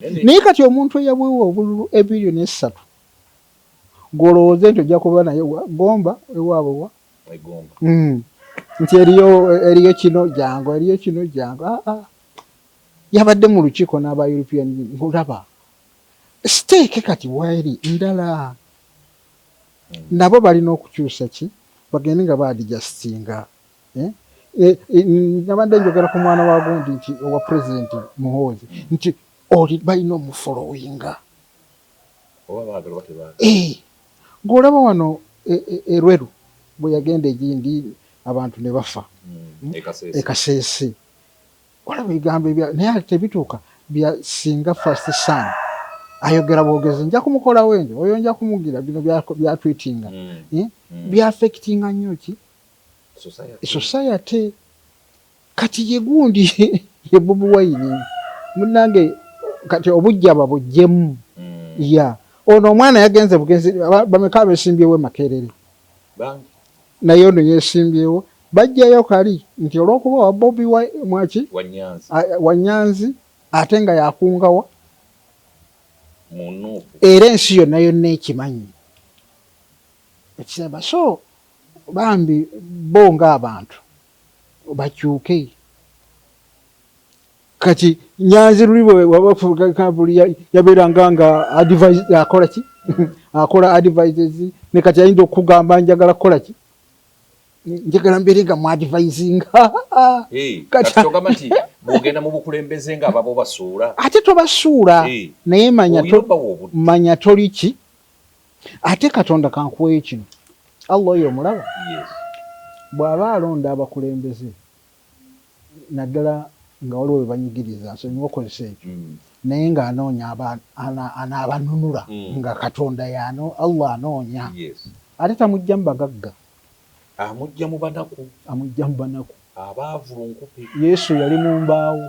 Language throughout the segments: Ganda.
Naye kati omuntu eyawewa obululu ebillion essatu golowooze nti ojja kuba naye wa gomba ewaabwe wa hmm. nti eriyo eriyo kino jangu eriyo kino jangu aa ah, ah. yabadde mu lukiiko n'aba european ngolaba siteeke kati waeri ndala hmm. nabo balina okukyusa ki bagende nga baadijasitinga Eh? Eh, eh, nabadde njogera ku mwana wa gundi nti owa pulezidenti muhoozi nti oli balina omufolowinga ng'olaba wano erweru bwe yagenda egindi abantu ne bafa hmm, ekaseese olaba ebigambo ebya naye tebituuka bya singa fast sun ayogera bwogezi nja kumukolawo enjo oyo nja kumugira bino byatwitinga hmm. hmm. byafekitinga nnyo ki society kati ye gundi ye bobi wine munange kati obujja babujjemu mm. ya ono omwana yagenze bugenzi bameka abesimbyewo emakerere naye ono yesimbyewo bajjayo kali nti olwokuba wa bobi mwaki wanyanzi ate nga yakungawa era ensi yonna yonna ekimanyi ekisaba so Bambi bo nga abantu bakyuke. Kati nyanzi luli bwewabafugakabuli yaberanga nga advise akola ki akola advises ne kati ayinza okugamba njagala kola ki njagala mbere nga mwadvising kati bwogenda mu bukulembeze nga ababo basuula ate tobasuula naye manya manya toli ki ate katonda kankuweyo kino allah oyo omulaba bw'aba alonda abakulembeze naddala nga waliwo bwe banyigiriza nsonyiwa okozesa ekyo mm. naye ng'anoonya anaabanunula mm. nga katonda yano allah anoonya ate tamujja mu bagagga amujja mu banaku amujja mu banaku abaavu lunkupe yesu yali mu mbaawo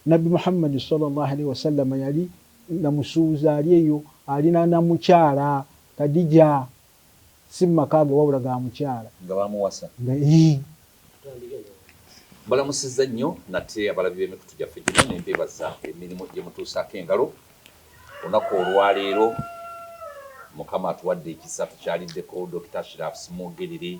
Nabbi Muhammad swalla Llaahu alaihi wasallama yali na musuubuzi ali eyo ali na na mukyala Kadija, si mu maka ge wabula ga mukyala. Nga baamuwasa. Nga yii. Mbalamusizza nnyo nate abalabi b'emikutu gyaffe gino ne mbeebaza emirimu gye mutuusaako engalo olunaku olwaleero. Mukama atuwadde ekisa tukyaliddeko Dokita Ashiraf Ssemwogerere.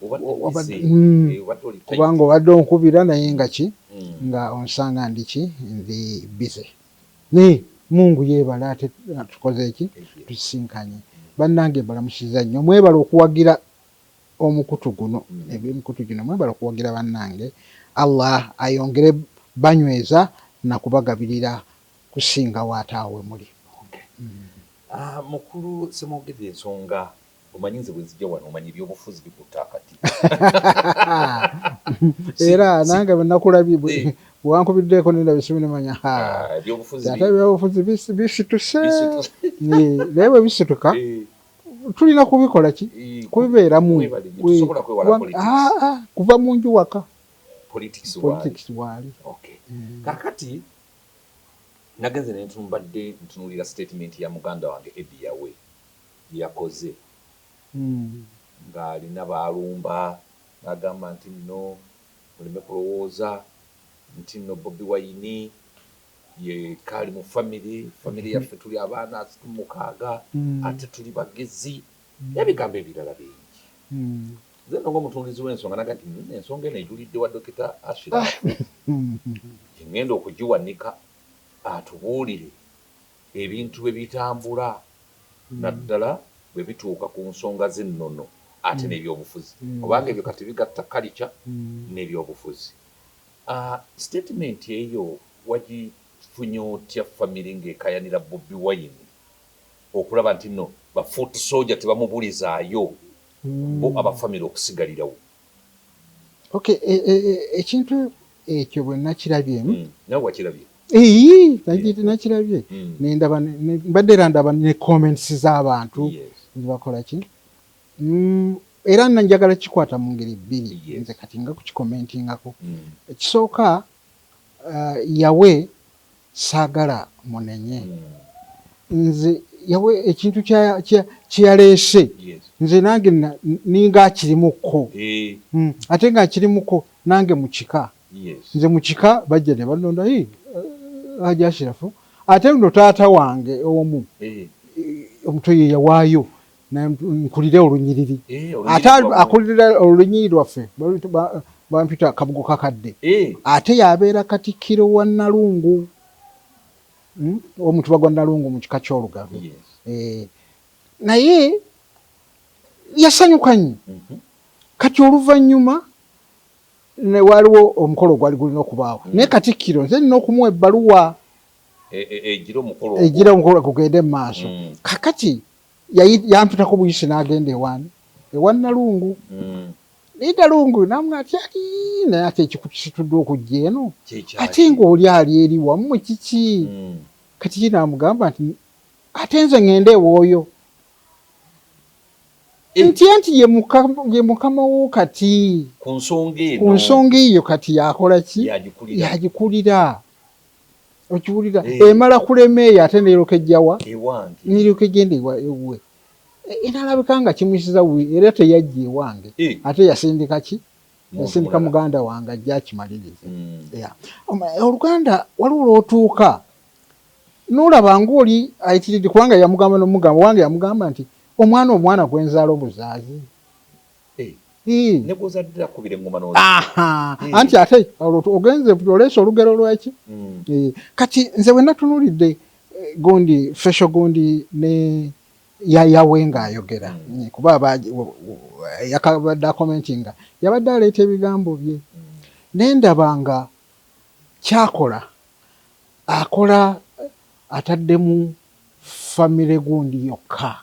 hmm. eh, kubanga obadde onkubira naye nga ki hmm. nga onsanga ndiki ndi bize naye mungu yebale ate tukoze eki tusisinkanye bannange mbalamusiza nnyo mwebale okuwagira omukutu guno hmm. ebimikutu gino mwebale okuwagira bannange allah ayongere banyweza nakubagabirira kusinga waataawe muli ah, mukulu semwogedde ensonga Omanyi nze bwenzija wano omanyi ebyobufuzi bikutte akati. Era nange bwenakulabye bwewankubiddeeko nendaba esimu nemanya haa taata ebyobufuzi bisituse naye bwebisituka tulina kubikola ki kubibeeramu kuva mu nju waka politics waali kakati nagenze nentumbadde ntunulira statement ya muganda wange Eddie Yawe bye yakoze ng'alina b'alumba n'agamba nti nno muleme kulowooza nti nno Bobi Wine yekka ali mu famire, famire yaffe tuli abaana asatu mu mukaaga ate tuli bagezi n'ebigambo ebirala bingi. Nze nno ng'omutundiizi w'ensonga nagamba nti nno ensonga eno ejulidde wa Dokita Ashiraf gye ng'enda okugiwanika atubuulire. ebintu bwe bitambula naddala bwe bituuka ku nsonga z'ennono ate n'ebyobufuzi kubanga ebyo kati bigatta kalica n'ebyobufuzi. Sitetimenti eyo wagifunye otya famire ng'ekayanira Bobi Wine okulaba nti nno ba foot soja tebamubulizaayo bo aba famire okusigalirawo? Okay, e, e, e, ekintu ekyo bwe nakirabye hmm, nawe wakirabye eyi nakirabye hmm. nendaba mbadde era ndaba ne comments z'abantu nzibakola ki hmm, era nanjagala kikwata mu ngeri bbiri nze kati nga kukikomentingako ekisooka Yawe saagala munenye. Nze Yawe ekintu kye yaleese nze nange ninga akirimuko hmm, ate nga nkirimuko nange mu kika. Nze mu kika bajja ne bannonda eh, Haji Ashirafu ate nno taata wange omu eh, omuto ye yawaayo nkulire olunyiriri eh, ate akulira olunyiriri lwaffe bampita kabugo kakadde eh. ate yabeera katikkiro wa nalungu hmm? omutuba gwa nalungu mu kika ky'olugave eh. naye yasanyuka nnyo mhm. kati oluvannyuma waliwo omukolo ogwali gulina okubaawo mhm. naye katikkiro nze nina okumuwa ebbaluwa e, e, e, egira omukolo gugende mu maaso mm. kakati yampitako buyisi n'agenda ewaani ewa Nalungu hmm. naye Nalungu namwe ati ati naye ate ekikutusituddwa okujja eno ate ng'oli ali eri wammwe kiki hmm. kati ki naamugamba nti ate nze ng'enda ewooyo eh. nti anti ye mukama wo kati ku nsonga eyo kati yakola ki yagikulira okiwulira eh. emala kulema eyo ate neeroka ejjawa neeroka egenda ewuwe e, enalabika nga kimusiza wi era teyajja ewange eh. ate yasindika ki yasindika muganda wange ajja akimaliriza hmm. oluganda waliwo lwotuuka nolaba ngaoli ayitiride kubanga yamugamba nomugamba wange yamugamba nti omwana omwana gwenzaala obuzaazi ne gwozadde akubira eŋŋoma n'ozi anti ate ogenze oleese olugero lwaki mm. kati nze bwe natunulidde eh, gundi fesho gundi ne yayawe ng'ayogera mm. eh, kuba yakabadde akomenti nga yabadde aleeta ebigambo bye mm. nendaba nga kyakola akola ataddemu famire gundi yokka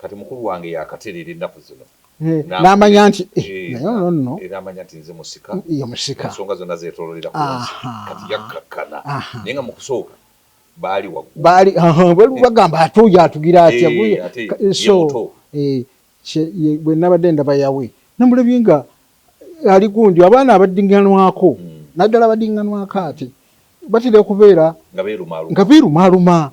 Kati mukulu wange yakatereera ennaku zino n'amanya nti naye ono nno era amanya nti nze musika ye musika ensonga zonna zeetoololera ku nsi kati yakkakkana naye nga mu kusooka baali waggulu baali eh. bagamba ate oyo atugira atya eh, so eh, bwe nabadde ndaba yawe namulabye nga ali gundi abaana abaddiŋŋanwako hmm. naddala abaddiŋŋanwako ati batera okubeera nga beerumaaluma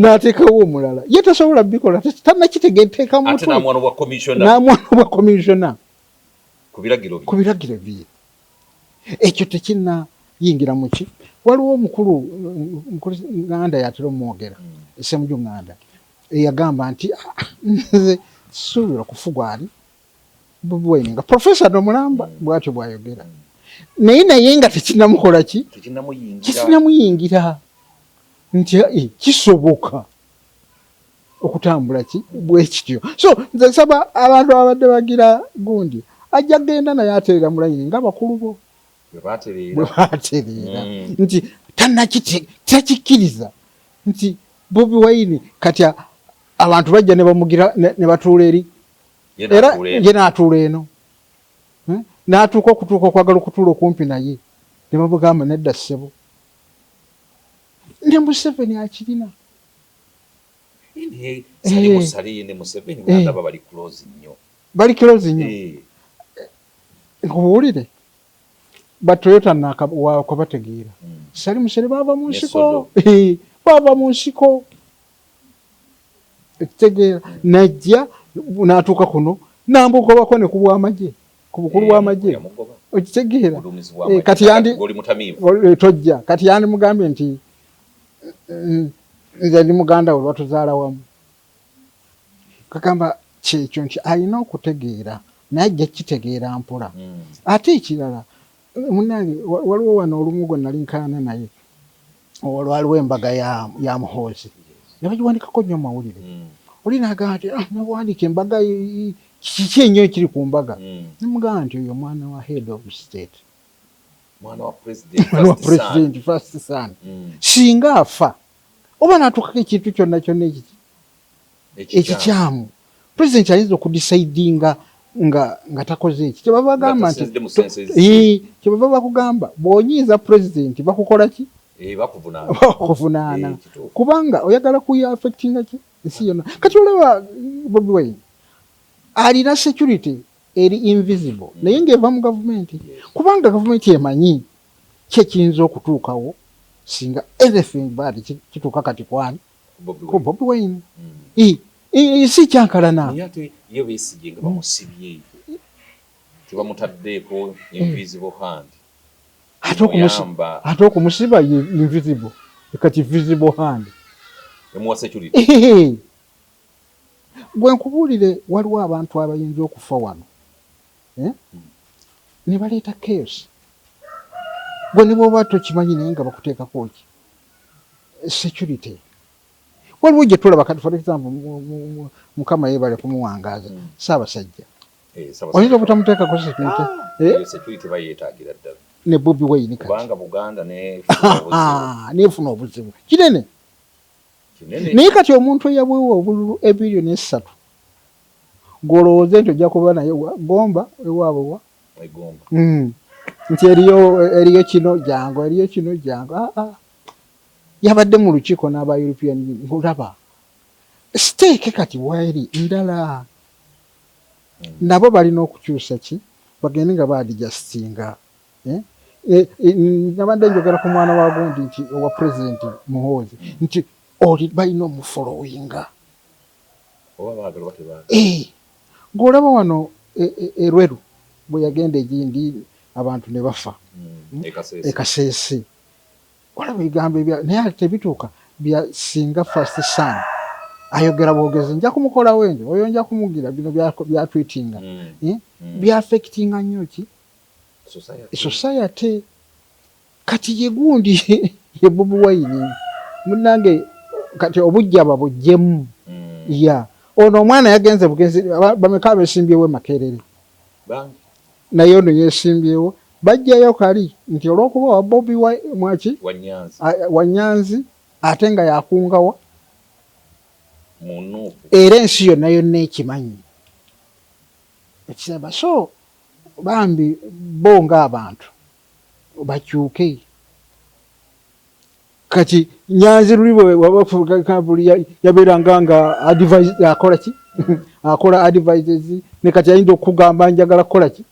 n'ateekawo omulala ye tasobola bikola tanakitegeteekamnamwana bwa komisiona ku biragiro bye ekyo tekinayingira muki waliwo omukulu nganda yatera omwogera esemuju nganda eyagamba nti ah, ah, nze suubira kufugwani bubweni nga profesa nomulamba mm. bwatyo bwayogera mm. naye naye nga tekinamukola ki tekinamuyingira nti eh, kisoboka okutambula ki bwekityo so nze nsaba abantu ababadde bagira gundi ajja genda naye atereera mulayini nga bakulu bo bwebatereera mm. nti tanakitekikkiriza nti bobi waini kati abantu bajja nebamugira nebatuula eri era ye n'atuula eno hmm? n'atuuka okutuuka okwagala okutuula okumpi naye ne bamugamba nedda ssebo ne museveni akirina eh. eh. bali close nnyo eh. nkubuwulire batoyota nakabategeera hmm. sali musere baava mu nsiko baava mu nsiko ekitegeera najja n'atuuka kuno n'amugobako ne ku bw'amagye ku bukulu eh, bw'amagye okitegeera eh, kati yandi eh, tojja kati yandimugambye nti nze ndi muganda we lwatuzaala wamu kagamba kyekyo nti alina okutegeera naye ajja kukitegeera mpola hmm. ate ekirala Munange waliwo wano olumu gwe nali nkaana naye olwaliwo embaga ya, ya muhoozi ne bagiwandikako nnyo mawulire mm. oli nagamba nti ah, newandika embaga kiki enyo ekiri ku mbaga mm. nemugamba nti oyo mwana wa head of state mwana wa president first son mm. singa afa oba natukako ekintu kyonna kyonna ekiti ekikyamu president ayinza okudisaidinga nga nga takoze eki kyebava bagamba nti kyebava bakugamba bwonyiiza president bakukola ki eh, bakuvunaana eh, kubanga oyagala kuya affectinga ki ensi yona kati olaba bobi wine alina security eri invisible mm. naye ngaeva mu gavumenti kubanga gavumenti emanyi kyekiyinza okutuukawo singa anything bad kituuka kati kwani ko bobi wine mm. si kyankalana ate okumusiba ye invisible kati visible hand gwe nkubuulire waliwo abantu abayinza okufa wano eh? mm. ne baleeta chaos gwe ne bwoba tokimanyi naye nga bakuteekako ki security waliwo gye tulaba kati for example mukama yebale kumuwangaaza hmm. ssaabasajja eh, oyinza obutamuteekako security ah, eh? security bayetagira ddala ne bobi wayini katibanga buganda nefuna obuzibu ah, kinene naye kati omuntu eyabwewa obululu ebiryo nesatu ngolowooze nti ojja kuba naye gomba ewaabwe wa mwegomba mm. nti eriyo eriyo kino jangu eriyo kino jangu aa ah, ah. yabadde mu lukiiko n'aba european ngolaba siteeke kati waeri ndala mm. nabo balina okukyusa ki bagende nga baadijasitinga eh? Eh, eh, nabadde njogera ku mwana wa gundi nti owa pulezidenti muhoozi nti oli balina omufoloyinga eh, ng'olaba wano erweru e, e bwe yagenda egindi abantu ne bafa hmm, ekaseesi e olaba ebigambo ebya naye ate bituuka bya singa first son ayogera bwogezi nja kumukolawo enjo oyo nja kumugira bino byatwitinga hmm, eh, hmm. byafekitinga nnyo ki society Kati ye gundi ye Bobi Wine munange kati obujja babujjemu mm. ya yeah. Ono omwana yagenze bugenzi bameka abesimbyewo emakerere naye ono yesimbyewo bajjayo kali nti olwokuba wa Bobi wa, mwaki wanyanzi ate nga yakungawa era ensi yonna yonna ekimanyi ekisaba so bambi bo ng'abantu bakyuke kati nyanzi luli bwewabafuli yabeeranga nga akola ki akola advises ne kati ayinza okukugamba njagala kukola ki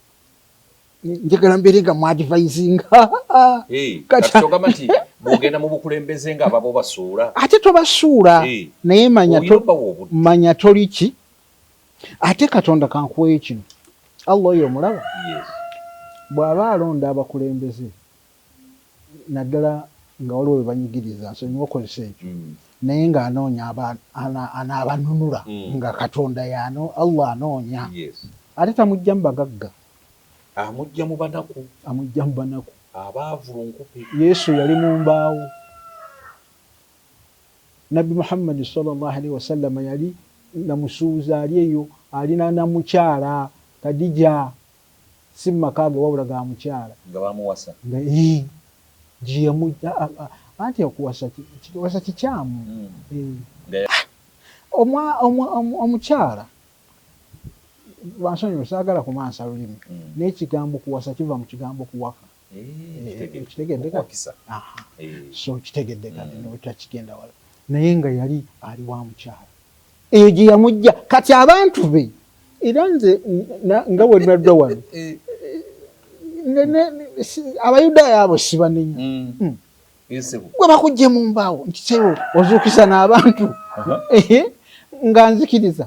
njagala mbeere nga muadvisinga bwogenda mu bukulembeze nga ababo basuula ate tobasuula naye manya toli ki ate katonda kankuweyo kino allah oyo omulaba bw'aba alonda abakulembeze naddala nga waliwo bwe banyigiriza nsonyiwa okozesa ekyo mm. naye ng'anoonya anaabanunula mm. nga katonda yano allah anoonya ate tamujja mu bagagga amujja mu banaku amujja mu banaku abaavulunkupe yesu yali mu mbaawo Nabbi Muhammad swalla Llaahu alaihi wasallama yali namusuuza ali eyo ali na namukyala Kadija si mumakaage wabula ga mukyala. Nga bamuwasa? Nga yii gyeyamujja anti okuwasa wasa kikyamu eeh. Omwa omwa omukyala bansonyiwe saagala kumansa lulimi naye ekigambo kuwasa kiva mukigambo kuwaka. so kitegedde kati mm. notakigenda wala naye nga yali ali wa mukyalo eyo gye yamujja kati abantu be era nze nga wenadda wano eh. abayudaaya abo sibanenya mm. mm. gwe bakujje mu mbaawo nkisewo ozuukisa n'abantu nga nzikiriza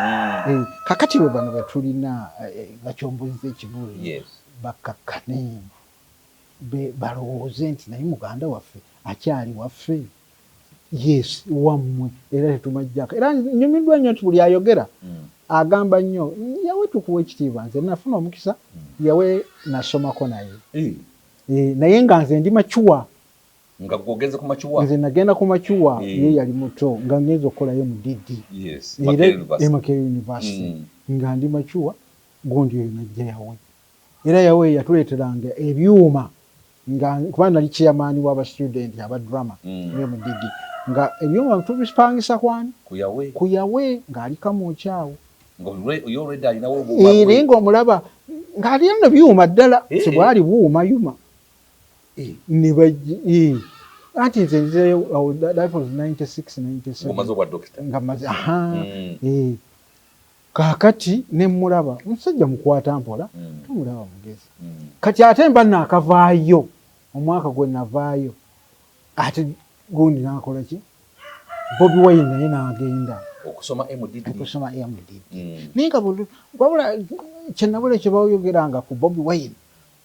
Mm. Eh, kakati lwe bano betulina eh, eh, bacombozza ekibuli yes. bakkakkane balowooze nti naye muganda waffe akyali waffe yes wammwe era tetumajjako era nyumiddwa nnyo nti buli ayogera mm. agamba nnyo yawe tukuwa ekitiibwa nze nafuna omukisa mm. yawe nasomako naye eh. naye nga nze ndi macuwa Nga gwe ogenze ku makiwa? Nze nagenda ku makiwa mm. ye yali muto nga ngenze okukolayo mu DD yes. era Makerere University mm. nga ndi makiwa gundi oyo najja yawe era yawe yatuleeteranga ebyuma nga kuba nali chairman waba student aba drama mm. eyo mu DD nga ebyuma tubipangisa kwani ku yawe ku yawe ng'ali kamwokyawo era ng'omulaba ng'ali eno byuma ddala eh, eh. tebwali buuma yuma ne bajja anti nze nzirayo awo that was 96 97 omaze obwa dokita nga maze aha mm. eh kakati ne mulaba musajja mukwata mpola mm. tumulaba mugezi mm. kati ate mba nakavaayo omwaka gwe navaayo ate gundi nakola ki bobi wine naye nagenda okusoma mdd okusoma mdd mm. naye nga wabula kyenabula kyebayogeranga ku bobi wine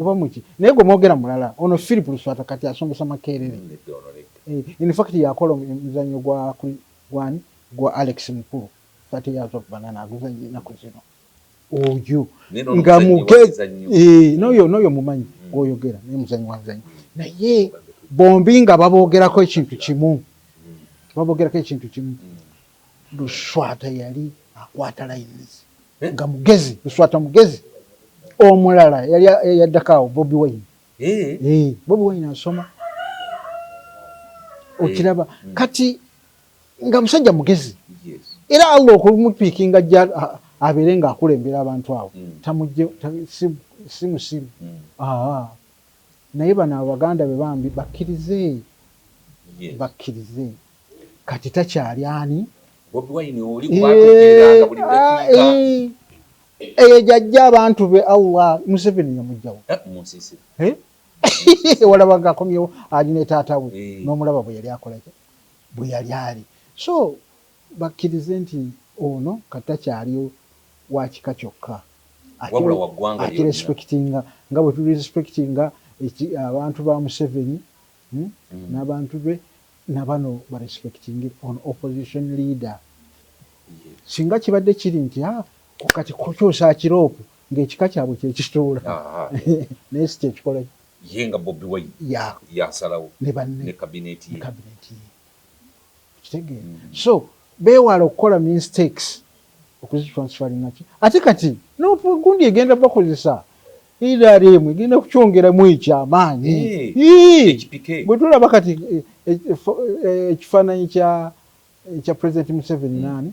oba muki naye gwe mwogera mulala ono philip luswata kati asomesa makerere eh, in fact yakola omuzanyo gwa gwani gwa alex mukulu 30 years of banana aguzanyo enaku zino oyo nga muge eh, noyo noyo mumanyi mm. gwoyogera naye muzanyi wazanyi naye bombi nga babogerako ekintu kimu mm. babogerako ekintu kimu mm. Luswata yali akwata lines nga mugezi luswata mugezi omulala yali yaddako awo bobi wine eh bobi wine asoma okiraba mm. kati nga musajja mugezi era allah okumupiikinga jja abeere nga akulembera abantu awo mm. tamujje si musiru mm. Naye bano abo baganda be bambi bakirize bakirize kati takyali ani Bobi wine oli kubategeeranga buli dakiika eyo jajja abantu be Allah Museveni yamujjawo eh, munsisi eh? walaba nga akomyewo ali ne taata we eh. n'omulaba bwe yali akolaki bwe yali ali so bakkirize nti ono kati takyali wa kika kyokka ate Wabula wa ggwanga lyonna. akirespekitinga nga bwe tulirespekitinga eki abantu ba Museveni n'abantu be na bano barespekitinge ono opposition leader. Singa kibadde kiri nti haa kati kukyusa akiropu ng'ekika kyabwe kye kituula naye si kye kikola. Ye nga Bobi Wine y'asalawo ne banne ne kabineeti ye. so bewala okukola mistakes okuzitransferinaki ate kati nogundi egenda bakozesa nrm egenda kukyongeramu ekyamaanyi eh, bwetulaba kati eh, eh, ekifaananyi kya president museveni hmm. naani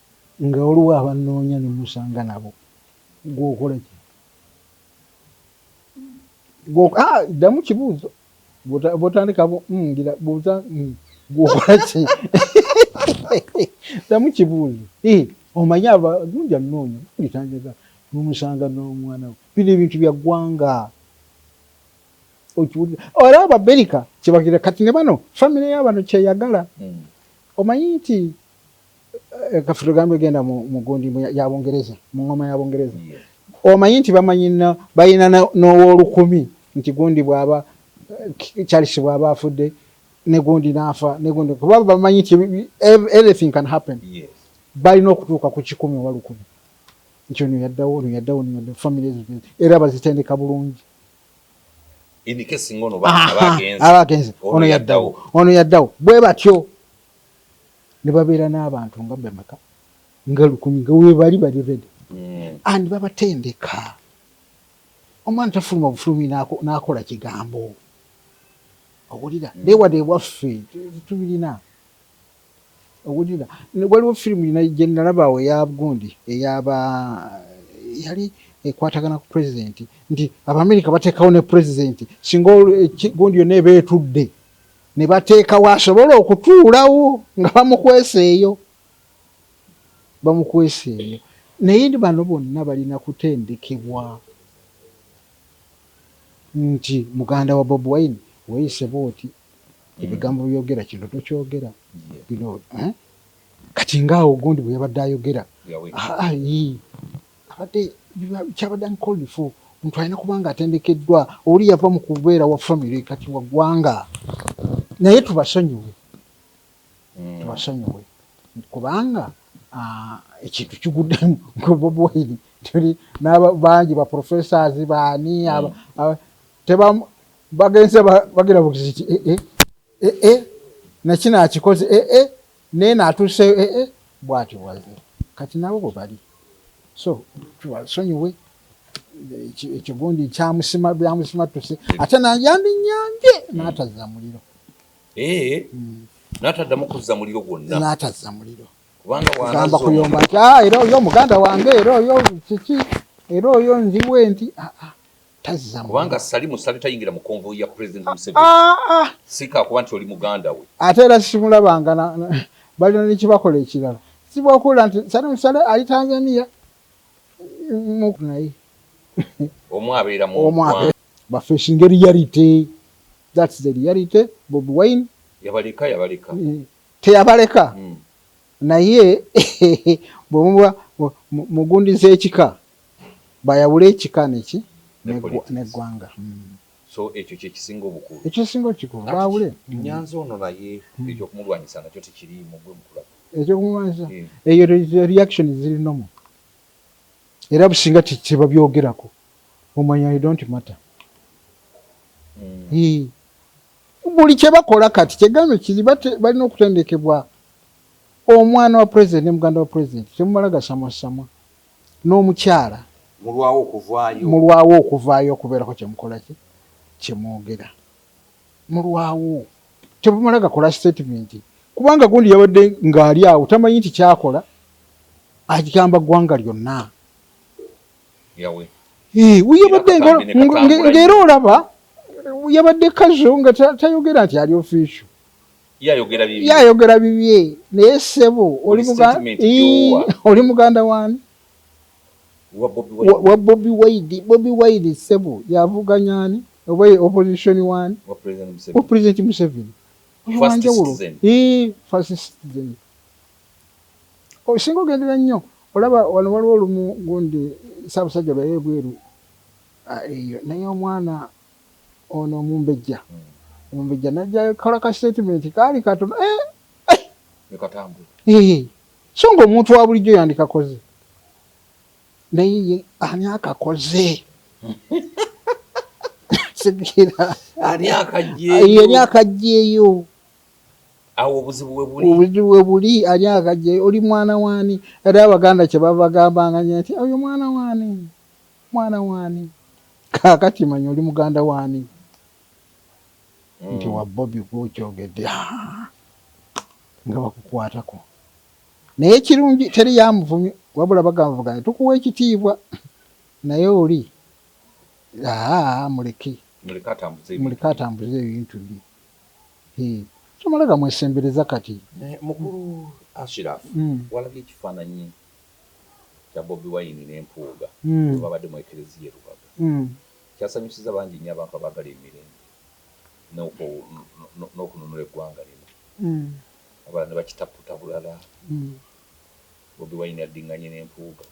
Nga waliwo abannoonya ne musanga nabo, ggwe okola ki? Ddamu kibuuzo. Bw'otandika bw'ongera buuza ggwe okola ki? Ddamu kibuuzo. Omanyi abalungi annoonya mulitanjaga ne musanga n'omwana we. Bino ebintu bya ggwanga. Okiwulira? Era Abamerika kye bagenda kati ne bano famire ya bano ky'eyagala. Omanyi nti. Eh, kafe tugambe genda mugundi yabungereza mu ngoma ya bungereza omanyi nti bamanyi balina n'owolukumi nti gundi bwaba eh, charles bwaba afudde negundi naafa negundi kuba bamanyi nti anything can happen balina okutuuka ku kikumi oba lukumi nti ono yaddawo ono yaddawo ono yaddawo famire ezo era bazitendeka bulungi aba agenze ono yaddawo ono yaddawo bwe batyo ne babeera n'abantu nga bameka nga lukumi nga webali bali redi mm. and babatendeka omwana tafuluma bufulumi n'akola kigambo owulira mm. naye wadde ewaffe tubirina owulira waliwo firimu gye nalaba awo eya gundi eyaba yali ekwatagana ku pulezidenti nti abamerika bateekawo ne pulezidenti singa eh, gundi yonna eba etudde ne bateekawo asobola okutuulawo nga bamukwesa eyo bamukwesa eyo naye bano bonna balina kutendekebwa nti muganda wa bob wine weyise bwoti mm. ebigambo byogera kino tokyogera bino eh? kati ngaawo gundi bwe yabadde ayogera ah, ah, abadde kyabadde an called for omuntu alina kuba nga atendekeddwa oli yava mu kubeera wa famire kati wa ggwanga naye tubasonyiwe hmm. tubasonyiwe kubanga ekintu kiguddemu bobi wine tuli nabangi ba professors baani hmm. bagenze bagenda bukiziti eh, eh, eh, nakino akikoze Nena atuse eh, eh, bwatyo bwaze kati nabo bwe bali so tubasonyiwe ekyo gundi kyamusima byamusima tuse ate nayandi nyambye natazza muliro eh, mm. nataddamu kuzza muliro gwonna natazza muliro kubanga kuyomba nti ah, era oyo muganda wange era oyo kiki era oyo nziwe nti ah, ah. tazza kubanga sali musale tayingira mu konvoyi ya president ah, Museveni ah, ah. sika kuba nti oli muganda we ate era simulabanga balina nekibakola ekirala sibwakuula nti sali musale ali Tanzania naye omu abeera mu baffe esinga reality thats the reality bob wine yabaleka yabaleka eh, teyabaleka hmm. naye bwemuba mugundiza ekika Bayawule ekika neki ne gwanga. So ekyo kyekisinga obukulu. Ekyo kyekisinga okikulu bawule. Kati nyanzi ono naye ekyokumulwanyisa nakyo tekiriimu gwe mukulaba. Ekyokumulwanyisa eyo reaction ziri nomu. Era businga tebabyogerako omanya you don't matter. Mm. Buli kyebakola kati kyegambe kiri balina okutendekebwa omwana wa president ne muganda wa president temumala gasamwasamwa. n'omukyala mulwawo okuvaayo okubeerako kye mukola ki kye mwogera mulwawo tebamala gakola sitatimenti kubanga gundi yabadde ng'ali awo tamanyi nti kyakola agamba ggwanga lyonna yabadde ng'era olaba yabadde kazo nga tayogera nti ali ofisio yayogera bibye naye sebo oli muganda wani wa bobi wide bobi wide sebo yavuganyani oba opposition wani wa president museveni oyowanjawulo first citizen osinga oh, ogendera nnyo olaba wano waliwo olumu gundi sabusajja lweyebweru ah, eyo naye omwana ono omumbejja omumbejja najakola ka statement kaali katono eh, eh. eh so nga omuntu wa bulijjo yandikakoze naye ye ani akakoze sigera ani akajjeeyo awo obuzibu webuli obuzibu webuli ani akajjeeyo oli mwana waani era abaganda kyebavagambanga nti oyo mwana waani Mwana wani? Kakati manya oli muganda wani? Mm. Nti wa Bobi gwokyogedde nga bakukwatako naye kirungi teri yamuvumi wabula bagamvuganya tukuwa ekitiibwa naye oli aa muleke muleke atambuze ebintu bye tomala gamwesembereza kati mukulu ashiraf mm. walabye ekifaananyi kya Bobi Wine ne Mpuuga bwe mwabadde mu Eklezia e Lubaga kyasanyusizza bangi nnyo abantu abaagala emirembe n'okununula eggwanga lino abalala ne bakitaputa bulala. Bobi Wine addinganye ne Mpuuga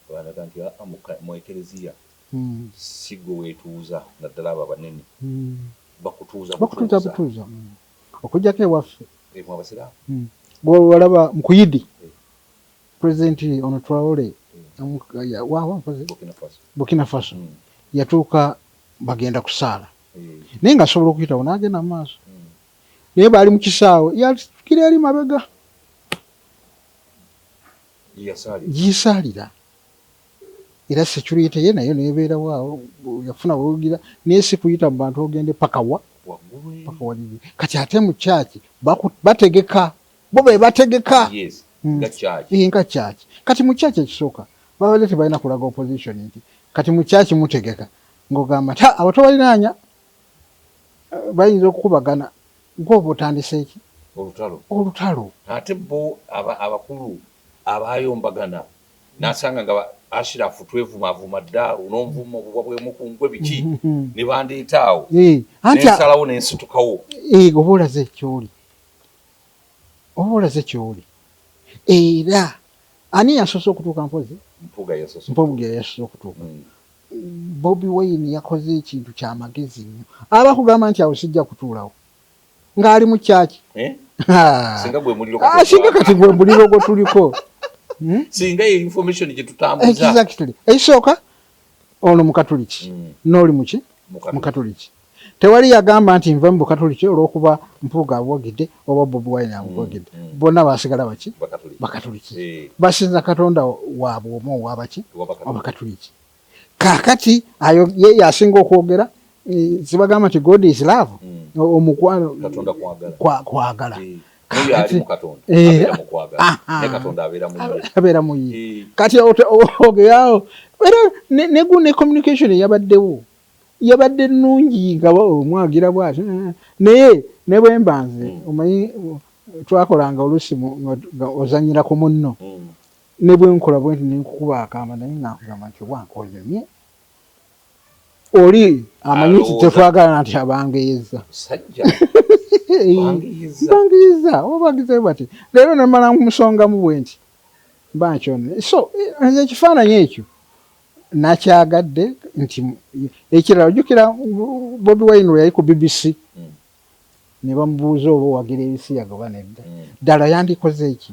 bw'alaga nti aa mu Eklezia si ggwe weetuuza naddala abo abanene bakutuuza butuuza. okujjako ewaffe bwolaba mukuyidi president ono twawole bukina faso hmm. yatuuka bagenda kusaala hmm. naye nga asobola okuyitawo nagenda mu maaso hmm. naye baali mukisaawe yatukira eri mabega giyisaalira Era security ye nayo neberawo awo yafuna wewugira naye sikuyita mu bantu ogende paka wa paka walili kati ate mu church bategeka bo bebategeka yes. mm. nga church eh, nga church kati mu church ekisoka babadde tebalina kulaga opposition nti kati mu church mutegeka ngogamba ta abo tobalinanya eh, bayinza okukubagana gwoba otandiseeki olutalo olutalo ate bo abakulu abayombagana nasanga nga ashirafu twevumaavuma dda unonvuma obubwa bwemukungwe biki nebandeeta awo nensalawo nensitukawo oba olaze kyoli oba olaze kyoli era ani yasoose okutuuka mpozi mpuga yasoose okutuuka hmm. bobi wayini yakoze ekintu kyamagezi nnyo abakugamba nti awo sijja kutuulawo ng'ali mu kyaki eh? singa kati gwe muliro gwe tuliko hmm? singa eyo information gye tutambuza ekisooka ono mukatuliki hmm. n'oli muki mukatuliki tewali yagamba nti nva mu bukatuliki olwokuba mpuuga abwogedde oba bobi wine abwogedde mm, mm. bonna basigala baki bakatuliki eh. basinza katonda waabwe omu owabaki abakatuliki kakati ayo ye yasinga okwogera eh, zibagamba nti god is love mm. omukwano kwagala eh, eh, ah, ah. abeera muyi kati ogeawo era negu ne communication yabaddewo yabadde nungi nga omwagira bwati naye nebwembanze mm. omanyi twakolanga olusi ozanyira ku munno mm. Ne bwe nkola bwenti ne nkukuba akaama naye nga nkugamba nti owange onyumye. Oli amanyi nti tetwagalana nti abangeyezza. Musajja bangiyizza. Bangiyizza oba bangizayo bati leero ne mmala nkumusongamu bwenti mba nkyononye. So nze ekifaananyi ekyo nakyagadde nti ekirala ojjukira Bobi Wine we yali ku BBC hmm. ne bamubuuza oba owagira ebisiyaga oba nedda hmm. ddala yandikoze ki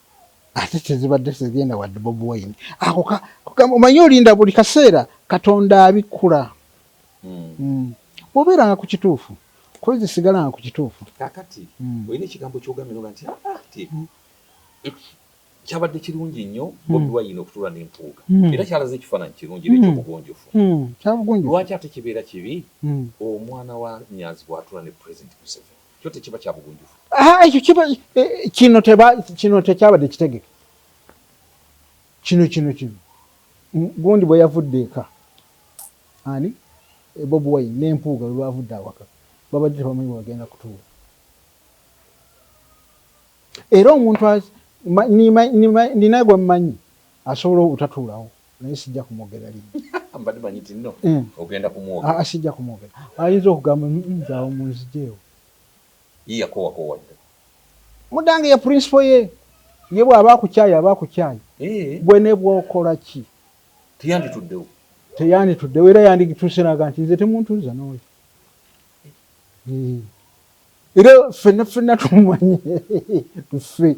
ate tezibadde tezigenda wadde bobi wine ako omanyi olinda buli kaseera katonda abikkula hmm. hmm. obeeranga ku kituufu kozi sigalanga ku kituufu kakati hmm. olina ekigambo kyogambe noga nti ah, ah, hmm. kyabadde kirungi nnyo bobi wine okutula nempuuga era kyalaze ekifaananyi kirungi era ekyobugonjofu lwaki ate kibeera kibi omwana wa nyanzi bwatula ne president museveni kyo tekiba kya bugunjufu. Ah, ekyo kiba eh, eh, kino teba kino tekyabadde kitegeke kino kino kino gundi bwe yavudde eka ani eh, bobi wine n'empuuga lwe lwavudde awaka babadde tebamanyi bwe bagenda kutuula era omuntu nina gwe mmanyi asobola obutatuulawo naye sijja kumwogera linnya. Mbadde manyi nti no ogenda kumwogera. Aa sijja kumwogera. Ayinza okugamba nze awo munzijeewo. Ye yakowakoowa dda. Mudange ye principal ye. Ye bw'aba akukyaye aba akukyaye. Ggwe ne bw'okola ki. Teyandituddewo. Teyandituddewo era yandituuse n'agamba nti nze temuntuuza n'oyo. Era ffenna ffenna tumumanyi. Ffe.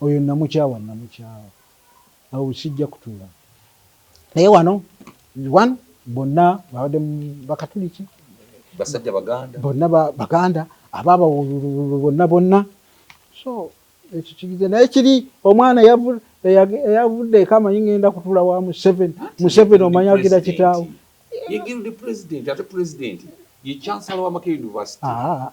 Oyo namukyawa namukyawa awo sijja kutuula naye wano one bonna babadde bakatuliki basajja baganda bonna baganda abaaba bonna bonna so ekyo kigize naye kiri omwana eyavudde eka amanyi ngenda kutula wa museven museven omanya agira kitaawo ye guild president ate president ye chancellor wa makerere university ah, ah, ah.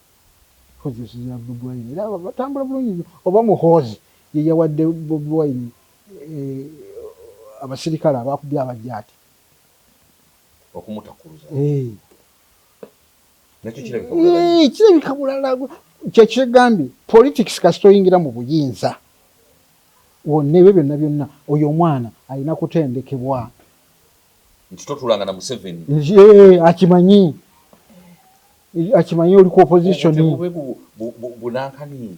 Mpozi osinzira Bobi Wine era batambula bulungi nyo oba Muhoozi yeyawadde Bobi Wine eh, abasirikale abakubye abajaati okumutakuluza eh. Nakyo kirabika bulala eh, kirabika bulala kyekyegambye politics kasita oyingira mu buyinza wonna ebyo byonna byonna oyo omwana alina kutendekebwa nti totulanga na museveni akimanyi akimanyi oli ku opposition bunankani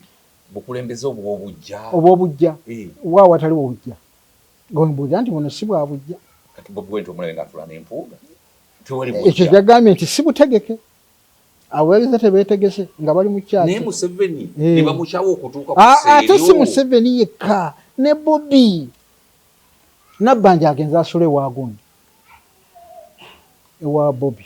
bukulembeze obwobujja obwobujja eh. wa watali obujja gombuja nti buno si bwa bujja kati bobi wente omulenga atula nempuuga ekyo kyagambye nti si butegeke abaweereza tebeetegese nga bali mu kyaki naye museveni eh. nebamukyawo okutuuka ah, ah, ate si museveni yekka ne bobi nabbanja agenza asula ewagundi ewa bobi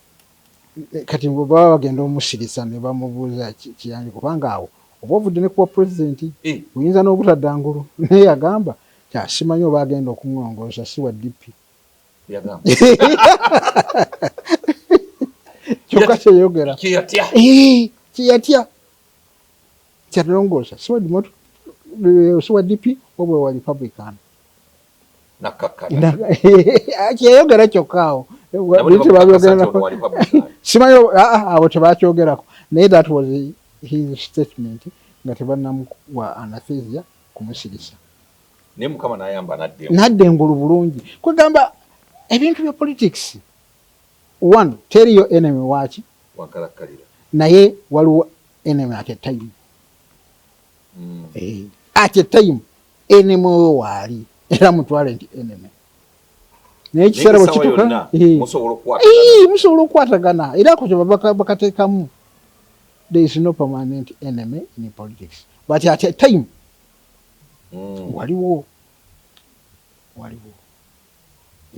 kati bwe baba bagenda omusirisa ne bamubuuza kiyambi kubanga awo oba ovudde ne kuwa pulezidenti eh. oyinza n'obutadda ngulu naye yagamba kyasimanyi oba agenda okuŋongoosa si wa DP kyokka kyeyogera kyeyatya eh, Kyalongoosa si wa Democrat eh, si wa DP wabula wa Republican kyeyogera kyokka awo simanyi ah, ah, abo tebakyogerako naye that was his statement nga tebanamuwa anathesia kumusirisa naye mukama nayamba nadde nadde ngulu bulungi kwegamba ebintu bya politics one teriyo enemy waki wankalakkalira naye waliwo Enemy at a time. Mm. Eh, at a time enemy oyo waali era mutwale nti enemy naye ekiseera bwe kituuka eh. musobola okukwatagana era ako kye bakateekamu there is no permanent enemy in politics but at a time mm. waliwo waliwo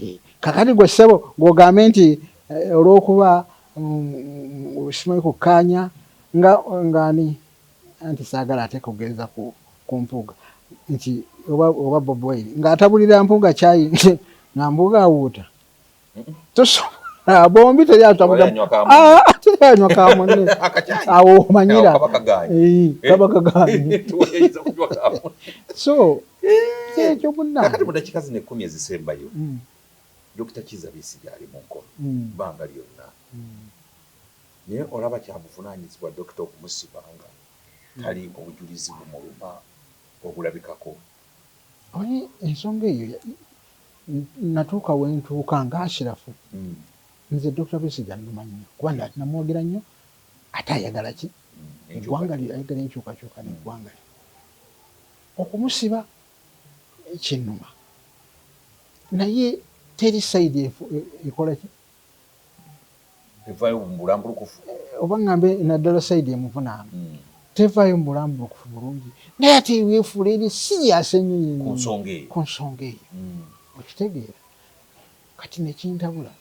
Eh, kakati gwe ssebo ng'ogambe nti eh, olw'okuba mm, simanyi kukkaanya nga ng'ani anti saagala ate kugenza ku, ku mpuuga nti oba, oba bob wine ng'atabulira mpuuga kyayi nga mpuuga awuuta tosobola bombi teri atabulira ah, teri anywa ka munne awo omanyira kaba kaganye eh, so kyekyo munange kakati mu dakika zino ekkumi ezisembayo mm. dokita kiza bisi gyali mu nkono mm. banga lyonna mm. naye olaba kyabuvunanyizibwa dokita okumusibanga tali obujulizi bumuluma obulabikako oye ensonga eyo natuuka wentuuka nga ashirafu nze dokita bisi gyanuma nnyo kuba namwogera nnyo ate ayagala ki eggwanga lye ayagala enkyukakyuka neggwanga lye Okumusiba kinnuma naye teri side ekola ki? Evayo mubulambulukufu. Oba ngambe naddala side emuvunaana hmm. tevayo mubulambulukufu bulungi naye ate wefuula eri serious ennyo yenyo ku nsonga eyo hmm. okitegeera kati nekintabula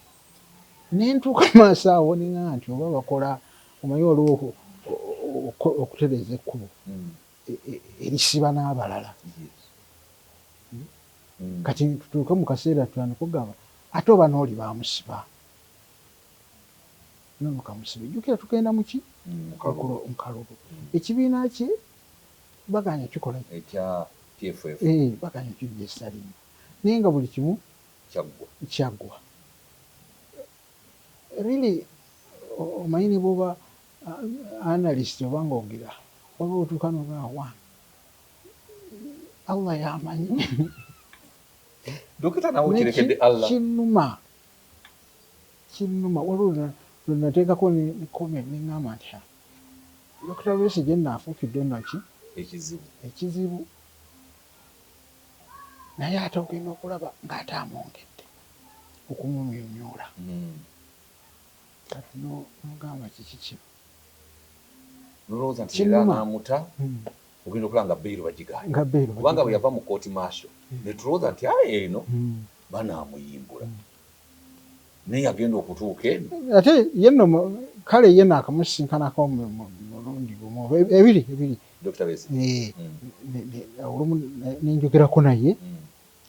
nentuuka maaso awo ninga nti oba bakola omanyi waliwo okutereza ekkubo hmm. e, e, erisiba n'abalala hmm. kati tutuuke mu kaseera tutandika okugamba ate oba n'oli bamusiba nono kamusibe jukira tugenda muki nkalulu ekibiina kye baganya kikola eh, baganya kijesalimu naye nga buli kimu kyaggwa Really omanyi nebwoba analyst oba nga ogera waliwo wotuuka nogamba one Allah yamanyi Dokita nawe okirekedde Allah. Kinuma. Kinuma waliwo lwenateekako ne comment ne ngamba nti ha Dokita Besigye nno afuukidde nno ki ekizibu ekizibu naye ate ogenda okulaba ng'ate amwongedde okumumyumyula hmm. kati nomugamba kiki kino nolowooza nti era amuta hmm. ogenda okulaba nga beyiro bagigaalikubanga bwe yava mu kooti maasho hmm. netulowooza nti aye eno banaamuyimbula naye agenda okutuuka eno ate yeno kale yeno akamusisinkanako mulundi gumu ebiri ebiri Dokita Besigye eh, mm. olumu nenjogerako naye mm.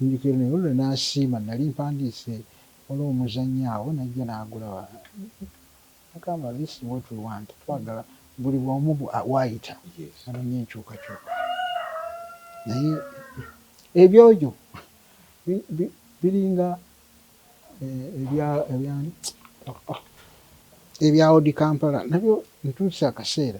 nenjogera naye olwo nasiima nali mpandiise waliwo omuzannyo awo najja nagulaba agamba this what we want twagala buli bwomu waayita anonye enkyukakyuka naye ebyojo biringa eh, ebyani ebya odi kampala nabyo ntuuse akaseera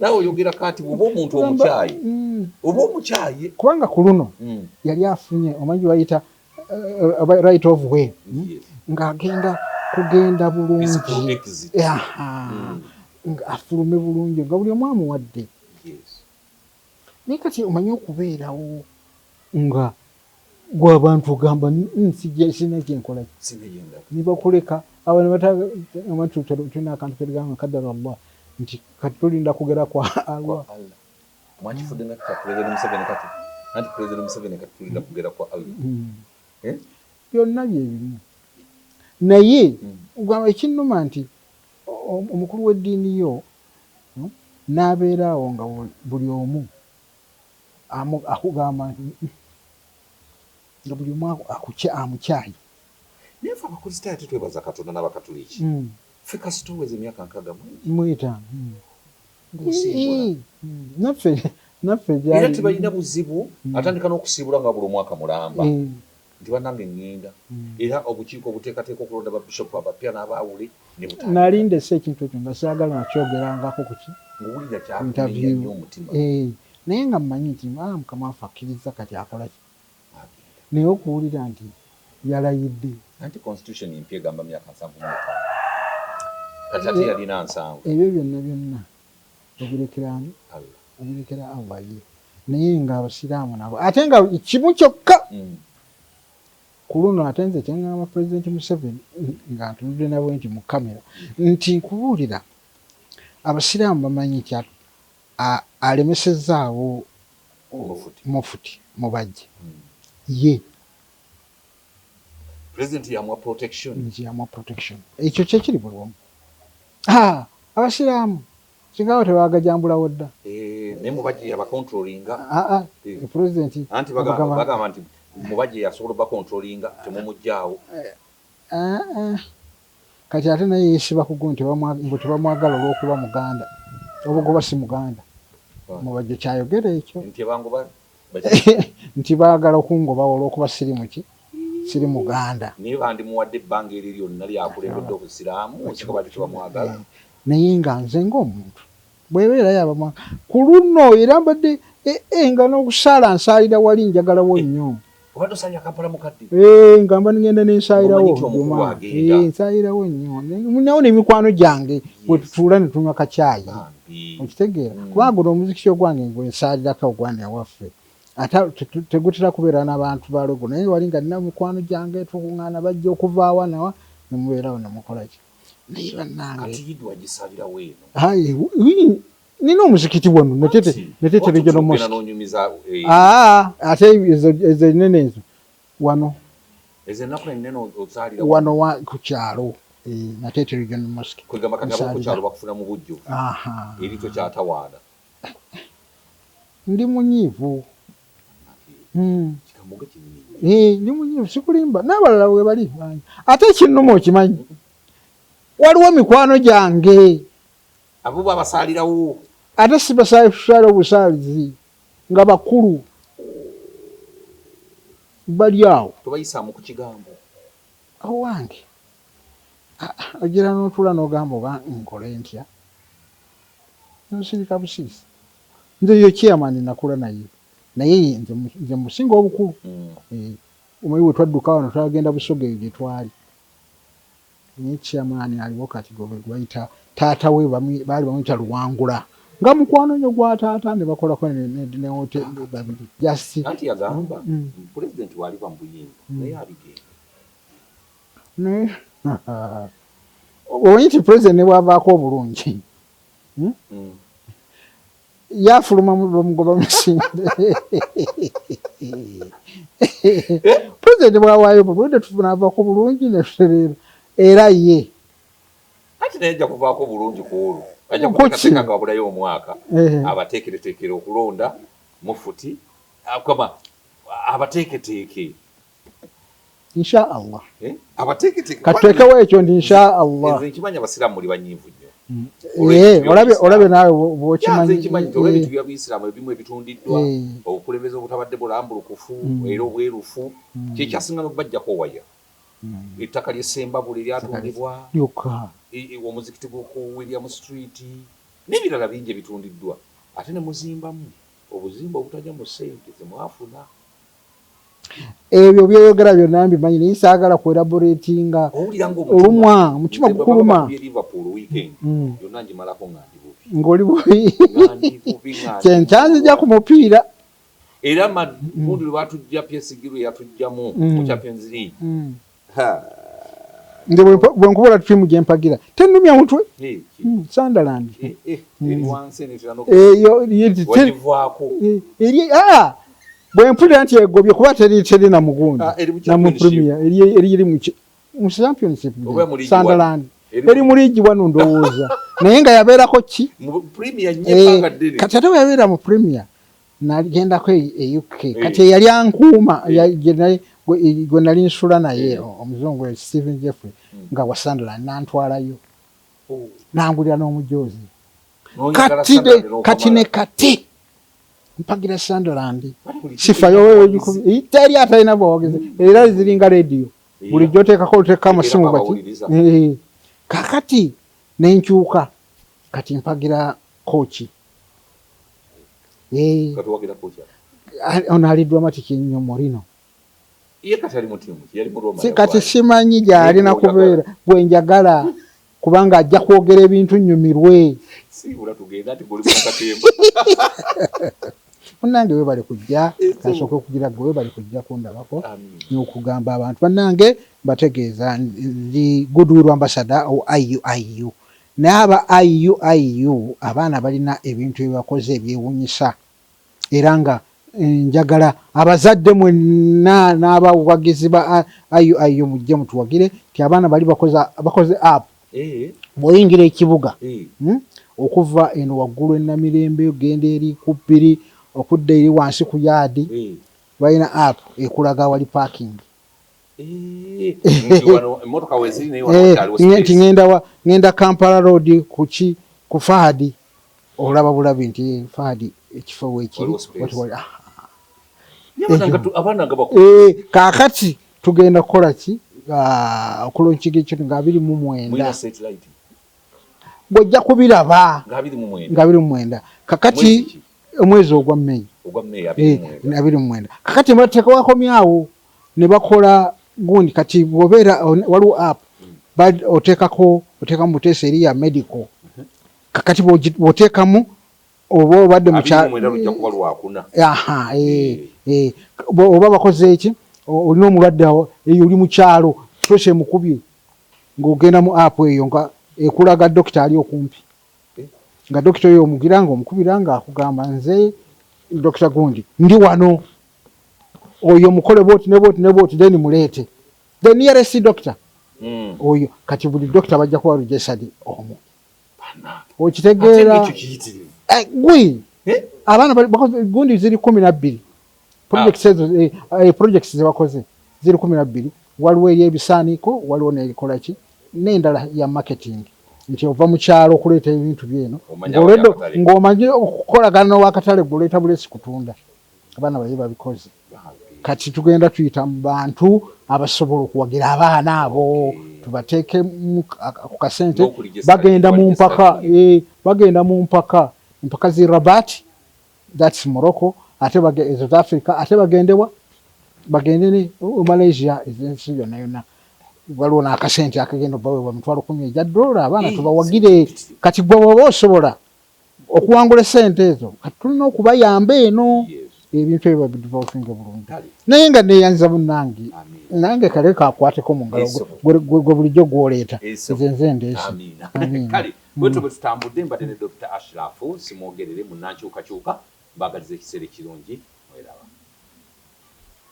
nawe oyogera kati oba omuntu omukyayi mm. oba omukyayi kubanga ku luno mm. yali afunye omanyi bayita uh, uh, right of way mm, ng'agenda kugenda bulungi afulume bulungi nga buli omu amuwadde naye kati omanyi okubeerawo nga gwe abantu ogamba mm, sirina kyenkola nebakuleka abo nebatulina akantu keligamba kadara llah nti kati tulinda kugera kwa allah mwakifudde nakka pulezidenti museveni kati anti pulezidenti museveni kati tulinda kugera kwa allah mm. eh? byonna byebimu naye mm. ekinuma nti omukulu w'eddiini yo hmm, n'abeera awo nga buli omu amu akugamba nti mm nga buli omu akukya amukyaye. Naye ffe abakristaayo tetwebaza Katonda n'abakatuliki. Ffe kasita oweza emyaka nkaaga mu ena. Mu etaano. Ng'osiibula. Naffe, naffe byali. Era tebalina buzibu, atandika n'okusiibula nga wabula omwaka mulamba. Nti banange ngenda era obukiiko obuteekateeka okulonda ba Bishop abapya n'abaawule ne butandika. Nali ndese ekintu ekyo nga saagala na kyogerangako ku ki Ng'owulira kyakunenya nnyo omutima. Interview. Eeh naye nga mmanyi nti aah Mukama waffe akkirizza kati akola ki? Agenda. Naye okuwulira nti yalayidde. Anti constitution empya egamba myaka nsanvu mu etaano. Kati ate yalina nsanvu. Ebyo byonna byonna. Obirekera ani Allah obirekera Allah ye naye nga abasiraamu nabo ate nga kimu kyokka mm. ku luno ate nze kyeŋŋamba pulezidenti museveni nga ntunudde nabwe nti mu kamera nti nkubuulira abasiraamu bamanyi nti alemesezaawo mufuti mubajje hmm. ye ekyo kyekiri buli wamu Haa abasiraamu kigaawo tebagajambulawo dda. Eeh naye Mubajje yaba controllinga. Haa ye president anti bagamba bagamba nti Mubajje yasobola oba controllinga temumujjaawo. Haa kati ate naye yesiba kugo nti mbu tebamwagala olwokuba muganda obugoba si muganda Mubajje kyayogera ekyo. Nti ebangoba. nti baagala okungobawo olw'okuba siri muki siri muganda naye bandimuwadde ebbanga eryo lyonna lyakulembedde obusiraamu singa baali tebamwagala eh, naye nga nze ng'omuntu bwebeera yabamwa ku luno era mbadde ee eh, eh, nga n'okusaala nsaalira wali njagalawo nnyo Obadde osanya Kampala mukadde? Eh, ngamba ngenda ne nsayirawo Juma. Eh, nsayirawo nnyo. Munawo ne mikwano gyange bwe tutuula ne tunywa kacaayi. Okitegeera? Mm. Kuba guno omuzikiti ogwange ngwe nsaalirako ogwani awaffe. Ata tegutera kubeera n'abantu ba logo naye wali nga nina mikwano gyange tukung'ana bajja okuvaawa nawa ne mubeerawo ne mukola ki. Naye bannange. Kati yidwa gisabirawo eno. Ayi, nina omuzikiti wano natete regional mosque eh, ah, ate ezo enene ezo wano wano ku kyalo eh, natete regional mosque ndi munyiivu hmm. eh, ndi munyiivu sikulimba n'abalala webali ate ekinnuma okimanyi waliwo mikwano gyange Abo bo abasaalirawo. Ate si basaalirawo busaalizi nga bakulu bali awo. Tobayisaamu ku kigambo. Owange ogira n'otuula n'ogamba oba nkole ntya? Nsirika busiisi. Nze ye chairman nakula naye naye nze musinga obukulu. Mm. Eh, omanyi bwe twadduka wano twagenda Busoga eyo gye twali. Naye chairman aliwo kati gwebagwayita taata we baali bamuyita luwangula nga mukwano nyo gwa taata nebakolako ne hotel babiri just anti yagamba mm. president wali ba mbuyingo mm. naye abigenda naye omanyi nti president nebwavaako obulungi hmm? mm. yafuluma bamugoba musinde eh? pulezidenti bwawaayo bulunde tunaava ku bulungi netutereera era ye anti naye ajja kuvaako bulungi ku olwo ajja kuteekateeka nga wabulayo omwaka eh. abateekereteekere okulonda mufuti akama abateeketeeke insha allah eh? katuteekewo ekyo nti insha allah nkimanyi abasiraamu muli banyiivu nnyo mm. eh, olabye naawe bwokimanyiebyobuisiramu eh. ebimu ebitundiddwa obukulembeze obutabadde bulambulukufu mm. era obwerufu mm. kyekyasinga nokubajjako waya ettaka lyesembabule lyatundibwa omuzikiti gwoku william street n'ebirala bingi ebitundiddwa ate nemuzimbamu obuzimba obutaja mu sente zemwafuna ebyo byoyogera byonna mbimanyi naye saagala ku elaboratinga olumwa mutima gukuluma mm. ng'oli bubi kyenkyanzija ku mupiira era magundi mm. lwe batujja pyesigirwe yatujjamu mm. mu champions league nze bwenkubula tirimu gyempagira tenumya mutwe hmm, sandaland eh, eh, hmm. eh, ah, bwempulira nti egobye kuba teri na mugundi ah, namupremier eriri mu championship sandaland eri mu liigi wano ndowooza naye nga yabeerako ki kati ate weyabeera mu premier nagendako e, e uk kati eyali ankuuma gwe nali nsula naye omuzungu e stephen jeffrey hmm. nga wa sunderland nantwalayo oh. nangulira n'omujoozi kati kati ne kati mpagira sunderland sifayo teri atalina bwogezi era ziringa rediyo bulijjo oteekako oteekako amasimu baki eh, kakati nenkyuka kati mpagira kooki Eh. Kati wagera kucha. Ah, ono ali dramatic nnyo Morino. Ye kati ali mu timu yali mu Roma. Si kati simanyi gyali na kubeera gwe njagala kubanga ajja kwogera ebintu nnyumirwe. Si bula tugenda ati goli mu katemba. Munange we bali kujja kasoke kugira gwe bali kujja kundabako n'okugamba abantu banange bategeeza ndi goodwill ambassador o IUIU. Naye aba IUIU abaana balina ebintu byebakoze ebyewunyisa era nga njagala abazadde mwenna n'abawagizi ba IUIU mujje mutuwagire nti abaana bali bakoze app bw'oyingira ekibuga okuva eno waggulu e Namirembe ogenda eri ku Bbiri okudda eri wansi ku yaadi balina app ekulaga awali paakingi nti ngendawa ngenda kampala road kuki ku fahadi olaba bulabi nti fahadi ekifo wekiri kakati tugenda kukola ki ah, okulonkiga ekyo nga abiri mu mwenda gwojja kubiraba nga abiri mu mwenda kakati omwezi ogwa meyi eh, abiri mu mwenda kakati mbatekawako myawo ne bakola gundi kati bwobeera waliwo app oteekako oteekamu muteesa eri ya medical kakati bwoteekamu oba obadde mukyaha eh, eh. oba bakoze eki olina omulwadde awo eyo oli mukyalo pressure emukubye ng'ogenda mu app eyo nga ekulaga dokita ali okumpi eh? nga dokita oyo omugira nga omukubira nga akugamba nze dokita gundi ndi wano oyo mukole bwoti ne bwoti ne bwoti then muleete the nearest doctor mm. oyo kati buli doctor bajja kuba registered omu okitegeera eh, gwi eh? abaana gundi ziri kumi nabbiri projects ah. ezo eh, eh, projects zebakoze ziri kumi nabbiri waliwo eyebisaaniiko waliwo nekolaki nendala ya marketing nti ova mukyalo okuleeta ebintu byeno ng'omanyi okukolagana nowakatale gwoleeta bulesi kutunda abaana baye babikoze kati tugenda tuyita mu bantu abasobola okuwagira abaana abo tubateeke ku kasente bagenda mu mpaka eh, bagenda mu mpaka empaka zi rabat thats morocco ate south africa ate bagendewa bagende ne oh, malaysia ezensi yonna yonna waliwo n'akasente akagenda obaweebwa mitwalo kumi egya dola abaana eh, tubawagire kati gwe waba osobola okuwangula esente ezo kati tulina okubayamba eno ebintu ebyo babidivolvinge bulungi naye nga neyanza munange nange kale kakwateko mu ngalo gwe bulijjo gwoleeta nze nze ndeese kale bwetyo mm. bwetutambudde mbadde ne dr ashirafu simwogerere munankyukakyuka mbagaliza ekiseera ekirungi mweraba